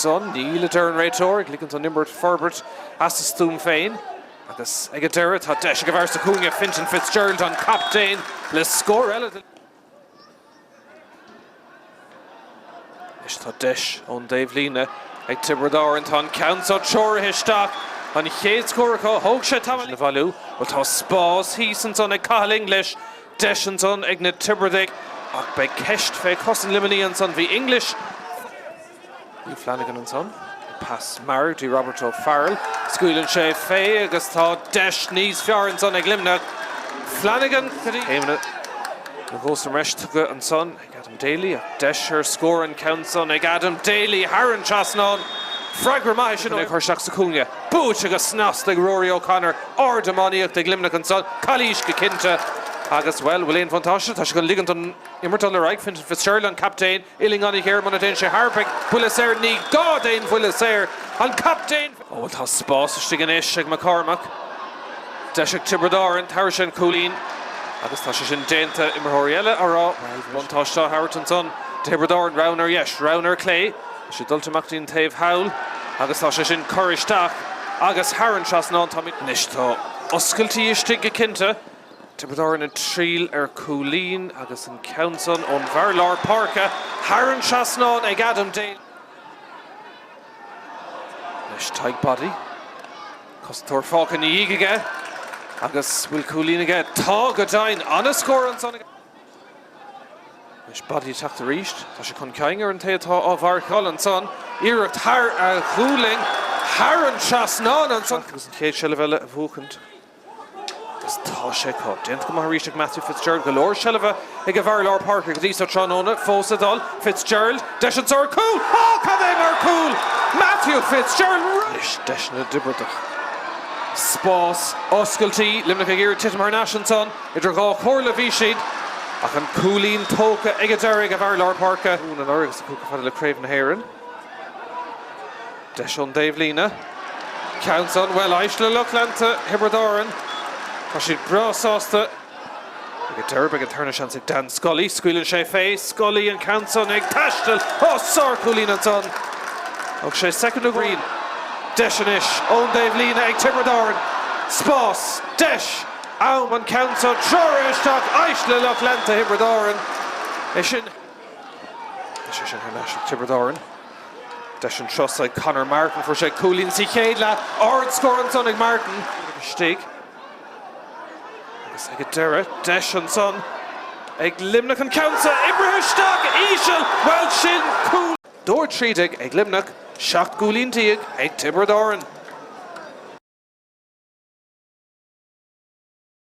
san. Níl, a deir an réiteoir, ag ligint don imirt forbairt as a stuaim féin. Agus ag an deireadh, tá deis ag an bhfear sa chúinne, Fintan Fitzgerald, an captaen, le scór eile den. Anois tá deis ón dtaobhlíne ag Tiobraid Árann. Tá an ceann seo treoraithe isteach. An chéad scór acu. Thóg sé tamall a bhailiú. Bhuel, tá spás thíos ansan ag Cathal English. Deis ansan ag na Tiobradaigh ach beidh ceist fé chosaint Luimnigh ansan. Bhí English. Hugh Flanagan ansan. Pas mear do Robert O'Farrell. Scaoileann sé fé agus tá deis níos fearr ansan ag Luimneach. Flanagan trí chéimeanna na gcos sa mbreis tugtha ansan ag Adam Daly ach deis ar scór, an ceann san ag Adam Daly thar an trasnán. Freagra maith é sin ag cur isteach sa chúinne. Buaite go snasta ag Rory O'Connor. Ard-iománaíocht ag Luimneach ansan. Calaois go cinnte agus, bhuel, bhfuil aon bhuntáiste? Tá sé chun ligint don imirt dul ar aghaidh. Fintan Fitzgerald an captaen. Uillinn an-ghéar, muna dtéann sé thar, beidh buille saor ní gá d'aon bhuille saor an captaen! Ó bhuel tá spás istigh anois ag McCormack. Deis ag Tiobraid Árann tabharfaidh sé an cúilín agus tá sé sin déanta. Imreoirí eile á rá bhuel bhí buntáiste á thabhairt ansan do Thiobraid Árann. Raon ar dheis, raon ar clé. Tá siad dulta amach dtí'n taobh thall agus tá sé sin curtha isteach agus thar an trasnán. Táimid anois. Tá oscailtí istigh go cinnte. Tiobraid Árann ag triail ar chúilín agus an ceann san ón bhfear lár páirce thar an trasnán ag Adam Daly. Anois Tadhg Boddy. Cosantóir fágtha ina dhiaidh aige agus bhfuil cúilín aige? Tá, go deimhin! An-scór ansan ag Anois Boddy ag teacht arís. Tá sé chun cinn ar an té atá á mharcáil. Ansan iarracht thar a ghualainn, thar an trasnán ansan agus an chéad seilbh eile a bhuachaint. Agus tá sé acu. Déanta go maith arís ag Matthew Fitzgerald. Go leor seilbhe ag a bhfear i lár páirce go dtí seo tráthnóna. Fós ag dul. Fitzgerald. Deis ansan. Cúl! Ó, cad é mar chúl! Matthew Fitzgerald. Anois deis na dTiobradach. Spás, oscailtí, Luimneach ag iarraidh titim thar n-ais ansan. Idir dhá chomhairle a bhí siad ach an cúilín tógtha ag an deireadh ag a bhfear i lár páirce. Mhúin anuraidh agus an cúl chomh fada le Craobh na hÉireann. Deis ón dtaobhlíne. An ceann san, bhuel, éist le lucht leanta Thiobraid Árann? Tá siad breá sásta ag an deireadh. Beidh an tarna seans ag Dan Scully. Scaoileann sé fé. Scully, an ceann san ag taisteal. Ó, sárchúilín ansan. Tógfaidh sé soicind amháin. Deis anois ón dtaobhlíne ag Tiobraid Árann. Spás. Deis. Am. An ceann san treoraithe isteach éist le lucht leanta Thiobraid Árann. É sin. Beidh sé sin thar n-ais ag Tiobraid Árann. Deis ansa ag Conor Martin, fuair sé cúilín sa chéad leath, ard scór ansan ag Martin. Iad istigh agus ag an deireadh, deis ansan ag Luimneach an ceann so a oibriú isteach íseal, bhuel sin cúl! Scór trí déag ag Luimneach, seacht gcúilín déag ag Tiobraid Árann.